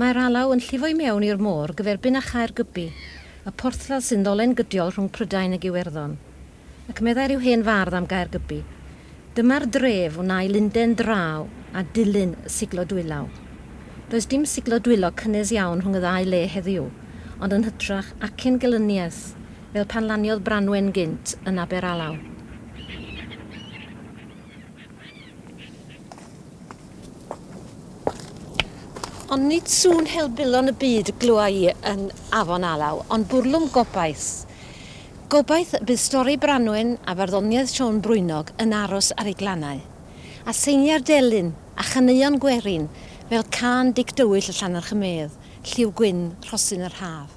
Mae'r alaw yn llifo i mewn i'r môr gyferbyn â Chaergybi, y porthladd sy'n ddolen gydiol rhwng Prydain ag Iwerddon. Ac meddai rhyw hen fardd am Gaergybi, Dyma'r dref wnâi lunden draw a dilyn y siglo dwylaw. Does dim siglo dwylo cynnes iawn rhwng y ddau le heddiw, ond yn hytrach acen gelyniaeth Fel pan laniodd Branwen gynt yn Aberalaw. Ond nid sŵn helbulon y byd y glywai i yn Afon Alaw, ond bwrlwm gobaith. Gobaith y bydd stori Branwen a farddoniaeth Siôn Brwynog yn aros ar ei glannau. A seiniau'r delyn, a chaneuon gwerin, fel cân Dic Dywyll y Llannerch y Medd, lliw gwyn rhosyn yr haf.